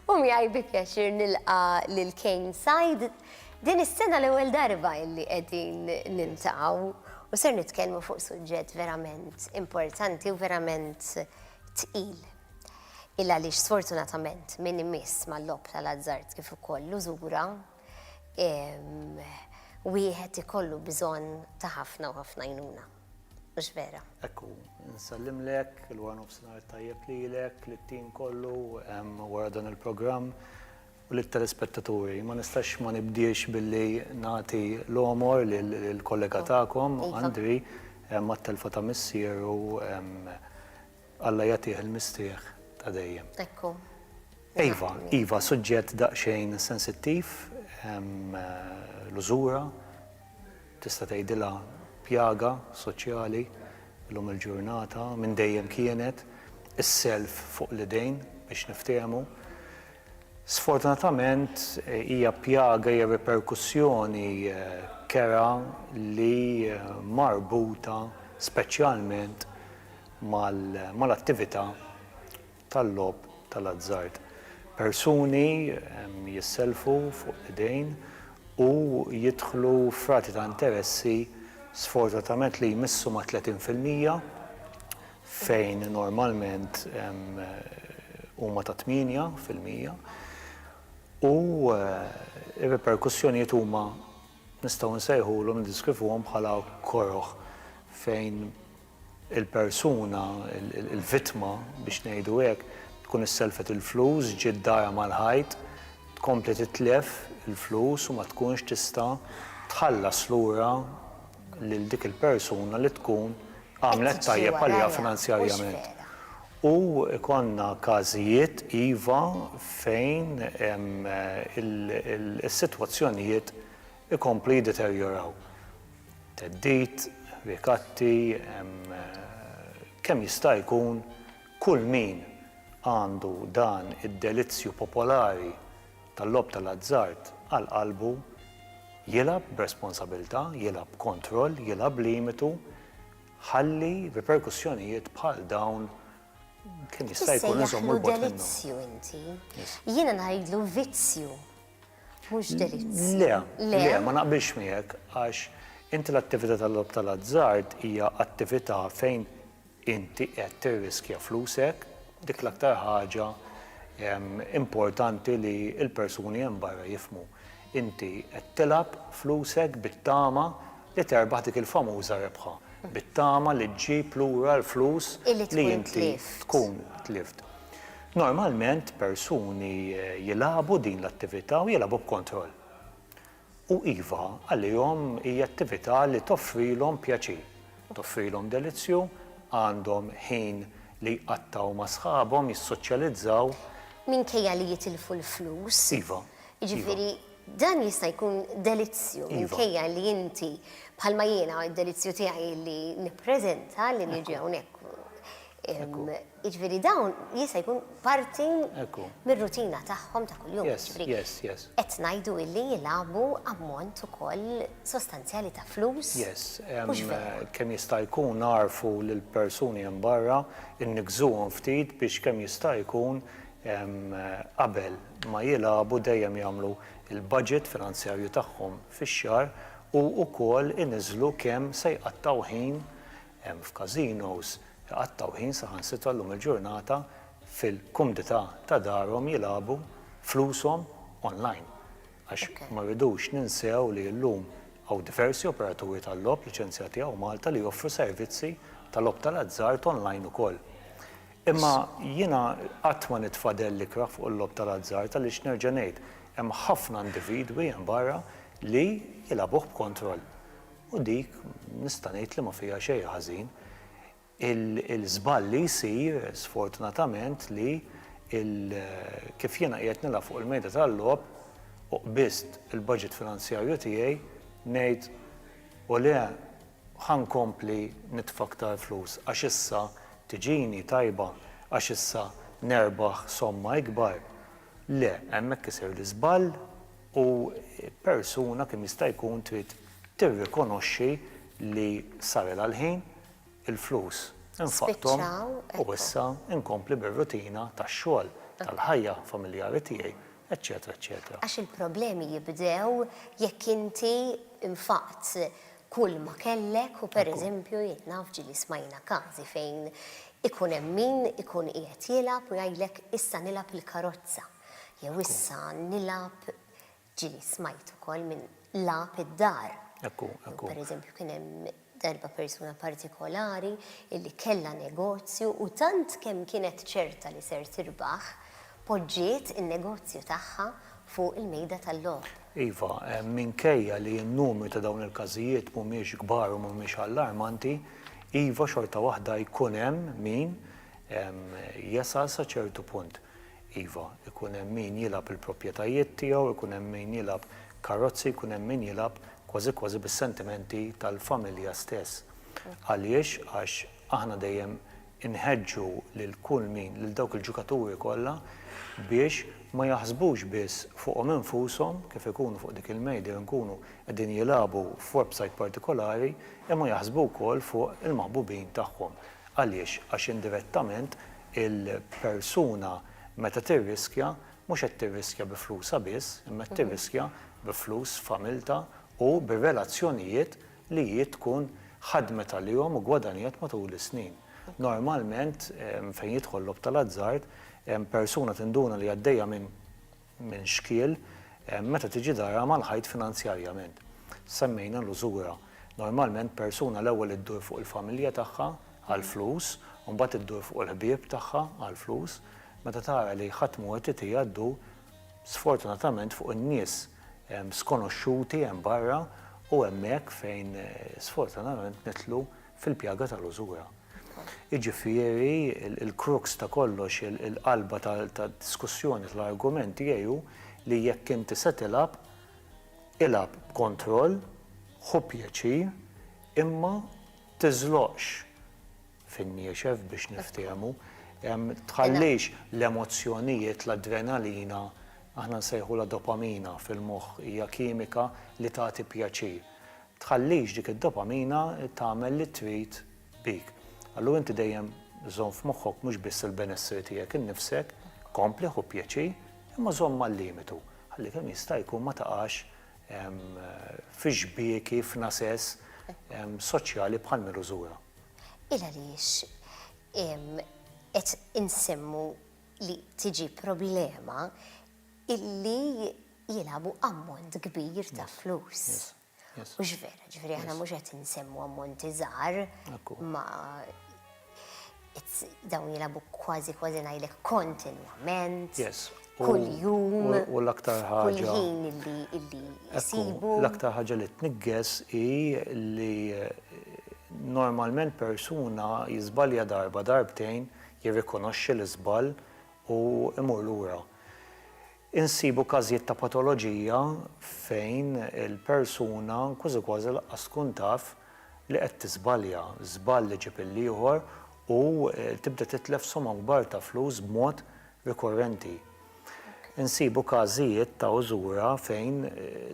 U miegħi bi pjaċir nilqa' lil Kane Said. Din is-sena l-ewwel darba li qegħdin niltaqgħu u ser nitkellmu fuq suġġett verament importanti u verament tqil. Il għaliex sfortunatament min imiss mal-logħob tal-azzard kif ukoll l-użura, wieħed ikollu bżonn ta' ħafna u ħafna għajnuna. Mhux vera? Hekk hu. Nsellimlek, il-wara nofsinhar tajjeb lilek, lit-tim kollu hemm wara dan il-programm u lit-telespettaturi. Ma nistax ma nibdiex billi nagħti l-għomor lill-kollega tagħkom, Andri, għat-telfa ta' missieru, Alla jagħtih il-mistrieħ ta' dejjem. Ekku. Iva, iva, suġġett daqsxejn sensittiv, l-użura, tista' tgħidilha pjaga soċjali llum il-ġurnata, minn dejjem kienet, is-self fuq l-idejn biex niftehmu. Sfortunatament hija pjaga, hija riperkussjoni kerha li marbuta speċjalment mal-attività tal-logħob tal-azzard. Persuni jissellfu fuq l-idejn u jidħlu f'rati ta' interessi sfortunatament li jmissu mat-30 fil-mija fejn normalment huma ta' tmienja fil-mija u r-riperkussjonijiet huma nistgħu nsejħulhom, niddeskrivuhom bħala koroh fejn il-persuna, il-vittma biex ngħidu hekk, tkun issellfet il-flus, ġiet dagħja mal-ħajt, tkompli titlef il-flus u ma tkunx tista' tħallas lura lil dik il-persuna li tkun għamlet tajjeb għaliha finanzjarjament. U jkollna każijiet, iva, fejn is-sitwazzjonijiet ikomplu jiddeterjoraw. Theddid, rikatti, kemm jista' jkun kull min għandu dan id-delizzju popolari tal-logħob tal-azzard għal qalbu, jilgħab b'responsabilità, jilgħab b'kontroll, jilgħab b'limitu, ħalli riperkussjonijiet bħal dawn kemm jista' jkun inżommu 'l bogħod minnhom. Issejjaħlu delizzju inti. Jiena ngħidlu vizzju. Mhux delizji. Le, le, ma naqbilx miegħek għax inti l-attività tal-logħob tal-azzard hija attività fejn inti qed tirriskja flusek, dik l-aktar ħaġa importanti li l-persuni hemm barra jifhmu. Inti qed tilgħab flusek bit-tama li terbaħ dik il-famuża rebħa bit-tama li ġġib lura l-flus li inti tkun tlift. Normalment persuni jilagħbu din l-attività u jilagħbu b'kontroll. U iva, għalihom hija attività li toffrilhom pjaċir, toffrilhom delizzju, għandhom ħin li jqattgħu ma' sħabhom, jissoċjalizzaw. Minkejja li jitilfu l-flus. Iva. Jiġifieri Dan jista' jkun delizzju minkejja li inti bħalma jiena d-delizzju tiegħi li nippreżenta li niġi hawnhekk. Jiġifieri dawn jista' jkun parti mir-rutina tagħhom ta' kuljum. Qed ngħidu illi jilagħbu ammont ukoll sostanzjali ta' flus. Kemm jista' jkun nagħrfu lill-persuni hemm barra, inniggżuhom ftit biex kemm jista' jkun qabel. ma jilagħbu dejjem jagħmlu l-budget finanzjarju tagħhom fix-xahar u wkoll iniżżlu kemm se jqattgħu ħin f'casinos, iqattgħu ħin saħansitra llum il-ġurnata fil-kumdità ta' darhom jilagħbu flushom online. Għax ma rridux ninsew li llum hawn diversi operaturi tal-logħob liċenzjati hawn Malta li joffru servizzi ta' logħob tal-azzard online ukoll. Imma jiena qatt ma nitfadell l-ikrah fuq il-logħob tal-azzard għaliex nerġa' ngħid, hemm ħafna individwi hemm barra li jilgħabuh b'kontroll. U dik nista' ngħid li ma fiha xejn ħażin. Il-żball li jsir, sfortunatament, li kif jiena qiegħed nilgħab fuq il-mejda tal-logħob u qbiżt il-budget finanzjarju tiegħi, ngħid, 'ole Ħa nkompli nitfa' aktar flus għax issa tiġini tajba, għax issa nerbaħ somma ikbar. Le, hemmhekk isir l-iżball u persuna kemm jista' jkun trid tirrikonoxxi li sarilha l-ħin, il-flus infaqthom u issa nkompli bir-rutina tax-xogħol, tal-ħajja familjari tiegħi, eċċetera eċċetera. Għax il-problemi jibdew jekk inti nfaqt kull ma kellek u pereżempju jien naf ġieli smajna każi fejn ikun hemm min ikun qiegħed jilgħab u jgħidlek issa nilgħab il-karozza jew issa nilgħab ġieli smajt ukoll minn lagħab id-dar. Pereżempju kien hemm darba persuna partikolari illi kellha negozju u tant kemm kienet ċerta li ser tirbaħ poġġiet in-negozju tagħha fuq il-mejda tal-logħob. Iva, minkejja li n-numri ta' dawn il-każijiet mhumiex kbar u mhumiex allarmanti, iva xorta waħda jkun hemm min jesal sa ċertu punt. Iva, ikun hemm min jilgħab il-proprjetajiet tiegħu, ikun hemm min jilgħab karozzi, jkun hemm min jilgħab kważi kważi bis-sentimenti tal-familja stess. Għaliex? Għax aħna dejjem Inħeġġu lil kull min, lil dawk il-ġukaturi kollha biex ma jaħsbux biss fuqhom infushom kif ikunu fuq dik il-mejda jew nkunu qegħdin jilagħbu f'websajt partikolari imma jaħsbu wkoll fuq il-maħbubin tagħhom. Għaliex? Għax indirettament il-persuna meta tirriskja mhux qed tirriskja bi flusha biss imma qed tirriskja bi flus familtha u bir-relazzjonijiet li hi tkun ħadmet għalihom u ggwadanjat matul is-snin. Normalment fejn jidħol logħob tal-azzard, persuna tinduna li għaddejja minn minn xkiel meta tiġi darha mal-ħajt finanzjarjament. Semmejna l-użura. Normalment persuna l-ewwel iddur fuq il-familja tagħha għall-flus u mbagħad iddur fuq il-ħbieb tagħha għall-flus. Meta tara li ħadd mhu qed itiha ddur sfortunatament fuq in-nies skonoxxuti hemm barra u hemmhekk fejn sfortunatament nidħlu fil-pjaga tal-użura. Jiġifieri l-crux ta' kollox, il-qalba tad-diskussjoni tal-argument tiegħi hu li jekk inti se tilgħab, ilgħab b'kontroll, ħu pjaċir, imma tiżloqx fin-niexef biex niftiehmu. Tħallix l-emozzjonijiet, l-adrenalina, aħna nsejħulha dopamina fil-moħħ, hija kimika li tagħti pjaċir. Tħallix dik id-dopamina tagħmel li trid bik. Allura inti dejjem żomm f'moħħok mhux biss il-benesseri tiegħek innifsek, kompli ħu pjaċir, imma żomm mal-limitu. Ħalli kemm jista' jkun ma taqax fi xbieki, f'nasess soċjali bħal Mirużura. Il-għaliex qed insemmu li tiġi problema illi jilagħbu ammont kbir ta' flus. Mhux vera, ġifieri aħna mhux qed insemmu ammonti żgħar ma dawn jilagħbu kważi kważi ngħidlek kontinwament. kuljum, u l-aktar ħaġa illi jsibu. L-aktar ħaġa li tniggħes hi li normalment persuna jiżbalja darba, darbtejn, jirrikonoxxi l-iżball u jmur lura. Insibu każijiet ta' patoloġija fejn il-persuna kważi kważi lanqas tkun taf li qed tiżbalja, żball iġib il-ieħor u tibda titlef somgħa kbar ta' flus b'mod rikorrenti. Insibu każijiet ta' użura fejn,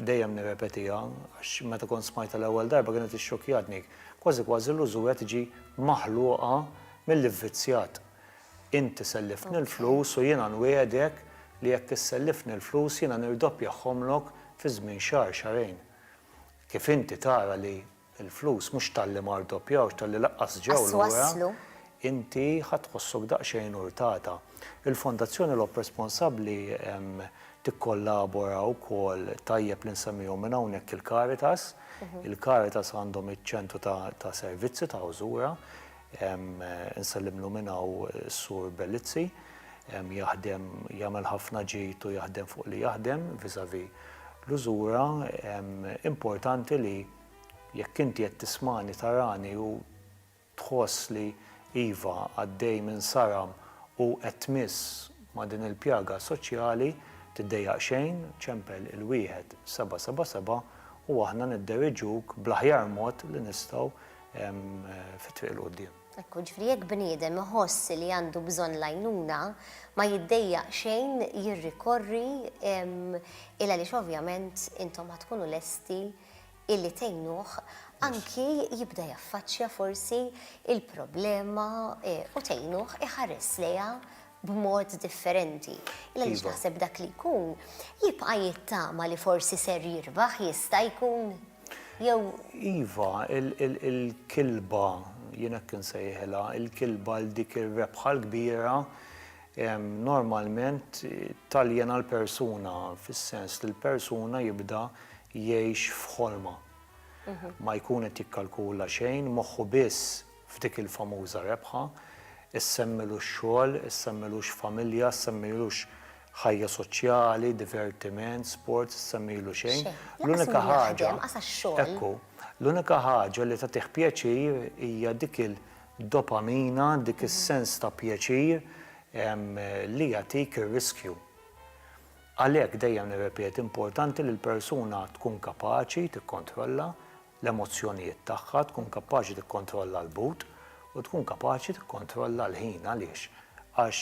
dejjem nirrepetiha għax meta kont smajtha l-ewwel darba kienet ixxokkjatni, kważi kważi l-użura tiġi maħluqa mill-ivvizzjat. Inti selliftni l-flus u jiena nwiegħdek li jekk issellifni l-flus jiena nirdoppjahomlok fi żmien xahar, xahrejn. Kif inti tara li il-flus mhux talli ma rdoppjawx, talli lanqas ġew lura, inti ħa tħossok daqsxejn urtata. Il-Fondazzjoni Logħob Responsabbli tikkollabora wkoll tajjeb li nsemmihom minn hawnhekk il-Caritas. Il-Caritas għandhom iċ-ċentru ta' servizzi ta' Użura. Insellimlu minn hawn is-Sur Bellizzi. Jaħdem, jagħmel ħafna ġid u jaħdem fuq li jaħdem vis-à-vis l-użura. Importanti li jekk inti qed tismagħni, tarani u tħoss li iva għaddej minn saram u qed tmiss ma' din il-pjaga soċjali, tiddejjaq xejn, ċempel il-wieħed seba' seba' seba' u aħna nidderiġuk bl-aħjar mod li nistgħu fit-triq il quddiem. Ekku, ġifri jekk bniedem iħoss li għandu bżonn l-għajnuna, ma jiddejjaq xejn jirrikorri il għaliex ovvjament intom ħa tkunu lesti illi tgħinuh anki jibda jaffaċċja forsi il-problema e, u tgħinuh iħares lejha b'mod differenti. Il għaliex iva. naħseb dak li jkun jibqa' jittama li forsi ser jirbaħ jista' jkun. Jew. Iva, il-kilba, jien hekk insejħilha, il-kilba għal dik ir-rebħa l-kbira normalment taljena l-persuna fis-sens li l-persuna jibda jgħix f'ħolma. Ma jkun qed jikkalkula xejn, moħħu biss. f'dik il-famuża rebħa, issemmilux xogħol, issemmilux familja, issemmilux ħajja soċjali, divertiment, sports, issemmilu xejn. Xejn. Lanqas min jaħdem, lanqas għax-xogħol. Ekku. L-unika ħaġa li tagħtih pjaċir hija dik il-dopamina, dik is-sens ta' pjaċir li jagħtik ir-riskju. Għalhekk dejjem nirrepeti, importanti li l-persuna tkun kapaċi tikkontrolla, l-emozzjonijiet tagħha, tkun kapaċi tikkontrolla l-but u tkun kapaċi tikkontrolla l-ħin. Għaliex? Għax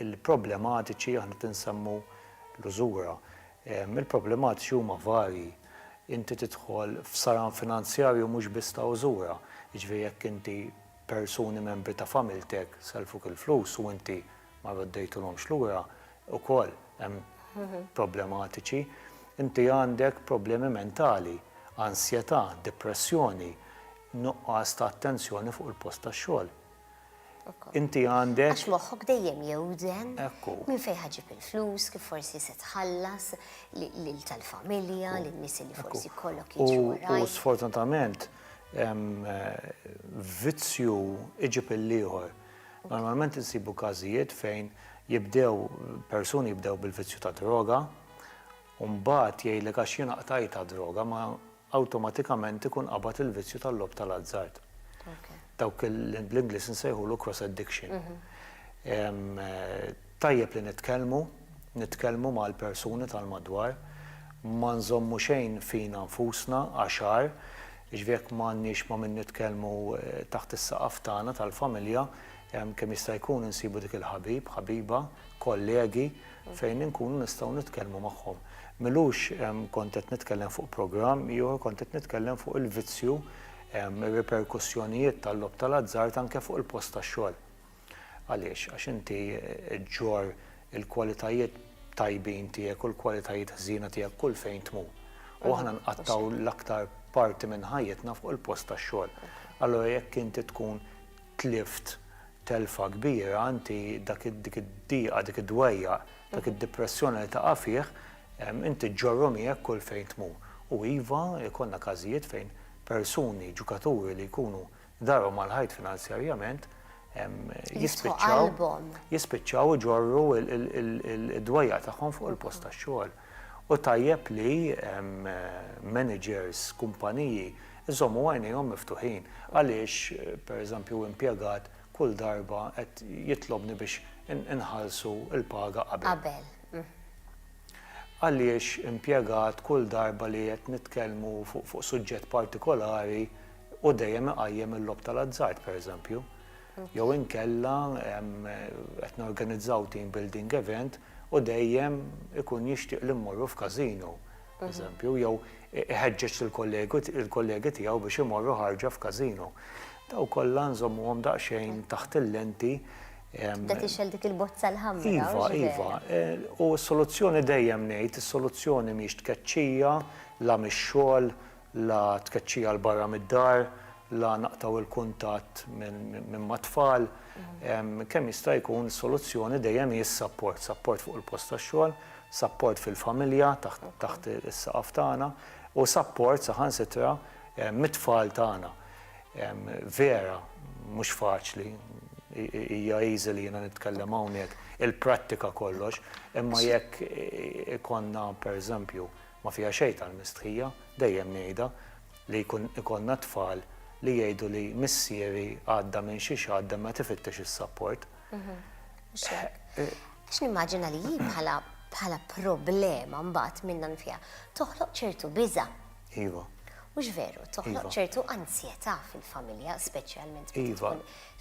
il-problematiċi, aħna qed insemmu l-użura, il-problematiċi huma varji. Inti tidħol f'saran finanzjarju mhux biss ta' użura, jiġifieri jekk inti, persuni membri ta' familtek sellfuk il-flus u inti ma roddejthulhomx lura ukoll hemm problematiċi. Inti għandek problemi mentali, ansjetà, depressjoni, nuqqas ta' attenzjoni fuq il-post tax-xogħol. Inti għandek. Għax moħħok dejjem jewden. Ekku. Minn fejn ħa ġġib il-flus, kif forsi se tħallas lil tal-familja, lin-nies li forsi jkollok jiġu. U sfortunatament vizzju iġib il-ieħor. Normalment insibu każijiet fejn jibdew, persuni jibdew bil-vizzju tad-droga, u mbagħad jgħidlek għax jiena qtajtha d-droga, ma awtomatikament ikun qabad il-vizzju tal-logħob tal-azzard. Dawk l-Ingliż insejħulu cross addiction. Tajjeb li nitkellmu, nitkellmu mal-persuni tal-madwar, ma nżommu xejn fina nfusna għax għar, jiġifieri jekk m'għandniex ma' min nitkellmu taħt is-saqaf tagħna tal-familja, kemm jista' jkun insibu dik il-ħabib, ħabiba, kollegi fejn inkunu nistgħu nitkellmu magħhom. M'ilux kont qed nitkellem fuq programm ieħor, kont qed nitkellem fuq il-vizzju, ir-riperkussjonijiet tal-logħob tal-azzard anke fuq il-post tax-xogħol. Għaliex? Għax inti ġġorr il-kwalitajiet tajbin tiegħek u l-kwalitajiet ħżiena tiegħek kull fejn tmur. U aħna nqattgħu l-aktar parti minn ħajjitna fuq il-post tax-xogħol. Allura jekk inti tkun tlift telfa kbira, inti dak dik id-dieqa, dik id-dwejjaq, dak id-dipressjoni li taqa' fih, inti ġġorru miegħek kull fejn tmur. U iva, ikollna każijiet fejn persuni, ġukaturi li jkunu Darhom mal-ħajt finanzjarjament jispiċċaw iġorru d-dwejjaq tagħhom fuq il-post tax-xogħol. U tajjeb li managers, kumpaniji jżommu għajnejhom miftuħin. Għaliex, per eżempju, impjegat kull darba qed jitlobni biex inħallsu l-paga qabel? Għaliex impjegat kull darba li qed nitkellmu fuq suġġett partikolari, Hu dejjem iqajjem il-logħob tal-azzard, pereżempju. Jew inkella qed norganizzaw team building event u dejjem ikun jixtieq li mmorru f'każino, pereżempju, jew iħeġġeġ lill-kollegi tiegħu biex imorru ħarġa f'każino. Dawn kollha nżommuhom daqsxejn taħt il-lenti. Tibda tixgħel dik il-bozza l-ħamra. Iva, iva. U s-soluzzjoni dejjem ngħid, is-soluzzjoni mhix tkeċċija, la mix-xogħol, la tkeċċija 'l barra mid-dar, la naqtgħu l-kuntatt minn mat-tfal, kemm jista' jkun is-soluzzjoni dejjem hi s-sapport, sapport fuq il-post tax-xogħol, sapport fil-familja taħt is-saqaf tagħna u sapport saħansitra mit-tfal tagħna. Vera mhux faċli, hija easy li jiena nitkellem hawnhekk, il-prattika kollox, imma jekk ikollna pereżempju Ma fiha xejn tal-mistħija, dejjem ngħidha, li jkun ikollna tfal li jgħidu li missieri għadda minn xi xatt imma qed ifittex is-sapport. Mhux hekk. Għax nimmaġina li hi bħala bħala problema mbagħad minnha nfiha toħloq ċertu biża'. Iva. Mhux veru, toħloq ċertu anzjetà fil-familja speċjalment meta tkun. Iva.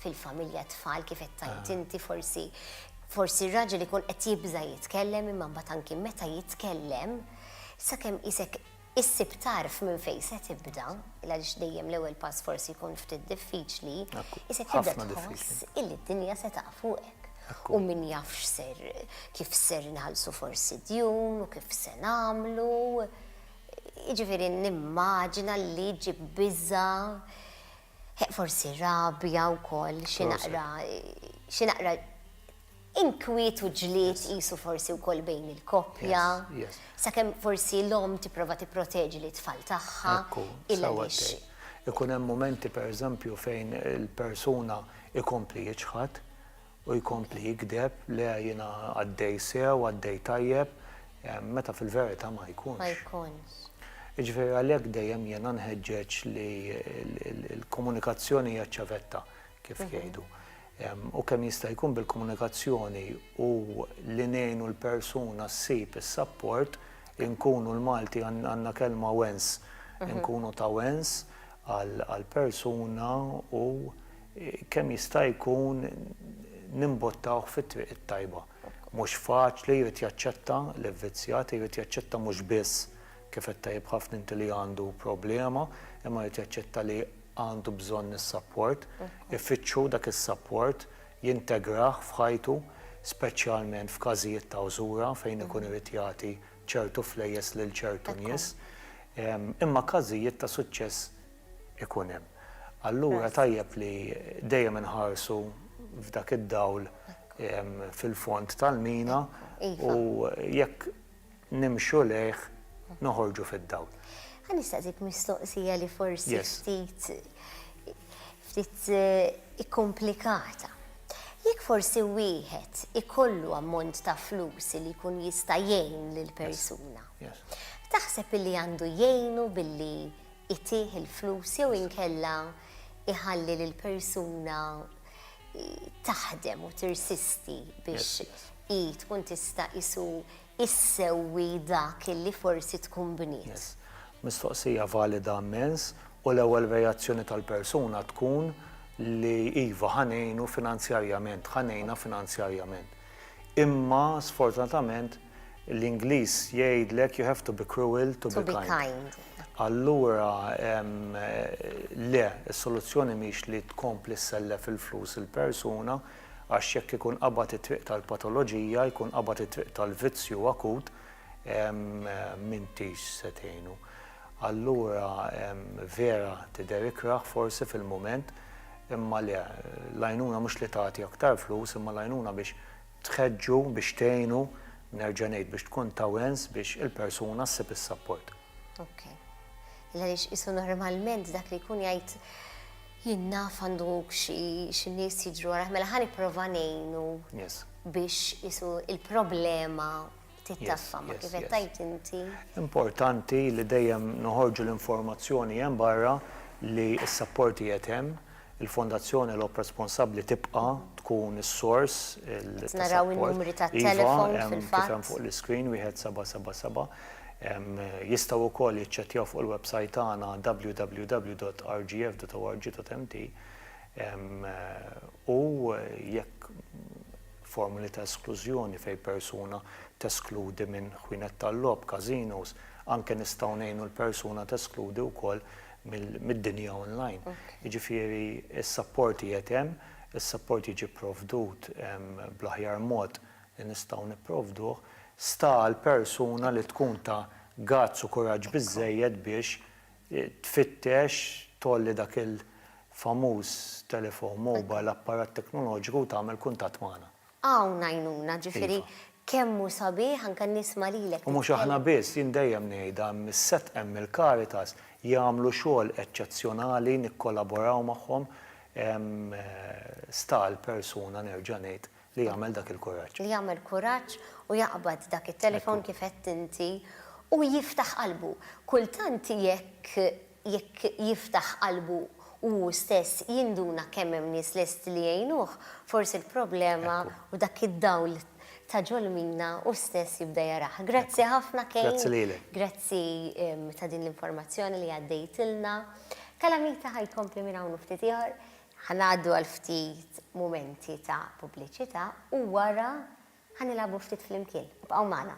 fil-familja t-tfal kif qed tgħid inti forsi forsi r-raġel ikun qed jibża' jitkellem imma mbagħad anki meta jitkellem sakemm isek issib tarf minn fejn se tibda, għaliex dejjem l-ewwel pass forsi jkun ftit diffiċli, isek tibda tħoss illi d-dinja se taqaf fuqek. U min jafx ser kif ser nħallsu forsi djun u kif se nagħmlu. Jiġifieri nimmaġina li ġib biża' Heq forsi rabja wkoll xi naqra xi naqra inkwiet u ġlied qisu forsi wkoll bejn il-koppja. Sakemm forsi l-omm tipprova tipproteġi lit-tfal tagħha. Ekku, sewwa tgħid. Ikun hemm mumenti pereżempju fejn il-persuna jkompli jiċħad. U jkompli jigdeb, le jiena għaddej sew, għaddej tajjeb, meta fil-verità ma jkunx. Ma jkunx. Jiġifieri għalhekk dejjem jiena nħeġġeġ li l-komunikazzjoni hija ċ-ċavetta, kif jgħidu. U kemm jista' jkun bil-komunikazzjoni u li ngħinu l-persuna ssib is-sapport, inkunu l-Malti għandna kelma wens, inkunu ta' wens għall-persuna u kemm jista' jkun nimbottawh fit-triq it-tajba. Mhux faċli, jrid jaċċetta li vvizzjat, jrid jaċċetta mhux biss, kif għedt tajjeb ħafna inti li għandu problema, imma jrid jaċċetta li għandu bżonn is-sapport, ifittxu dak is-sapport, jintegrah f'ħajtu, speċjalment f'każijiet ta' użura fejn ikun irid jagħti ċertu flejjes lil ċertu nies. Imma każijiet ta' suċċess ikun hemm. Allura tajjeb li dejjem inħarsu f'dak id-dawl fil-fond tal-mina u jekk nimxu lejh noħorġu fid-dawl. Ħa nistaqsik mistoqsija li forsi ftit ftit ikkomplikata. Jekk forsi wieħed ikollu ammont ta' flus li jkun jista' jgħin lill-persuna. Taħseb illi għandu jgħinu billi itih il-flus jew inkella iħalli lill-persuna taħdem u tirsisti biex hi tkun tista' qisu issewwi dak li forsi tkun bniet. Mistoqsija valida mmens u l-ewwel reazzjoni tal-persuna tkun li iva ħa ngħinu finanzjarjament, ħa ngħinha finanzjarjament. Imma sfortunatament l-Ingliż jgħidlek you have to be cruel to be kind. Allura le, is-soluzzjoni mhix li tkompli ssellef il-flus il-persuna għax jekk ikun qabad it-triq tal-patoloġija, jkun qabad it-triq tal-vizzju akut, m'intix se tgħinu. Allura vera tidher ikrah forsi fil-mument imma le, l-għajnuna mhux li tagħti aktar flus imma l-għajnuna biex tħeġġu, biex tgħinu, nerġa' ngħid biex tkun ta' wens biex il-persuna ssib is-sapport. Ok. Għaliex qisu normalment dak li jkun jgħid jien naf għandu xi nies jiġru warajh mela ħa nipprova ngħinu biex qisu l-problema tittaffa ma kif qed tgħid inti. Importanti li dejjem noħorġu l-informazzjoni hemm barra li s-sapport qiegħed hemm, il-Fondazzjoni Logħob Responsabbli tibqa' tkun is-sors ta' sapport. Iva, kif hemm fuq l-iscreen, 1777. Jistgħu wkoll jiċċekkjaw fuq il-websajt tagħna www.rgf.org.mt u jekk. formuli ta' esklużjoni fejn persuna teskludi minn ħwienet tal-logħob, casinos, anke nistgħu ngħinu l-persuna teskludi wkoll mid-dinja online. Jiġifieri s-sapport qiegħed hemm, is-sapport jiġi pprovdut bl-aħjar mod li nistgħu nipprovduh, sta għall-persuna li tkun ta' gazz u kuraġġ biżżejjed biex tfittex, tgħolli dak il-famuż telefon mobile, apparat teknoloġiku u tagħmel kuntatt magħna. Hawn għajnuna, ġifieri kemm hu sabiħ anke nisma' lilek titkellem. U mhux aħna biss, jien dejjem ngħidha, hemm is-set hemm il-Caritas, jagħmlu xogħol eċċezzjonali, nikkolaboraw magħhom, hemm sta għall-persuna nerġa' ngħid Li jagħmel dak il-kuraġġ. Li jagħmel kuraġġ u jaqbad dak it-telefon kif għedt inti u jiftaħ qalbu. Kultant jekk jekk jiftaħ qalbu hu stess jinduna kemm hemm nies lesti li jgħinuh, forsi l-problema u dak id-dawl ta' ġolmina hu stess jibda jarah. Grazzi ħafna Kane. Grazzi lilek. Grazzi ta' din l-informazzjoni li għaddejtilna. Kalamita ħa jkompli minn hawn u ftit ieħor. Ħa ngħaddu għal ftit mumenti ta' pubbliċità u wara ħa nilgħabu ftit flimkien. Ibqgħu magħna.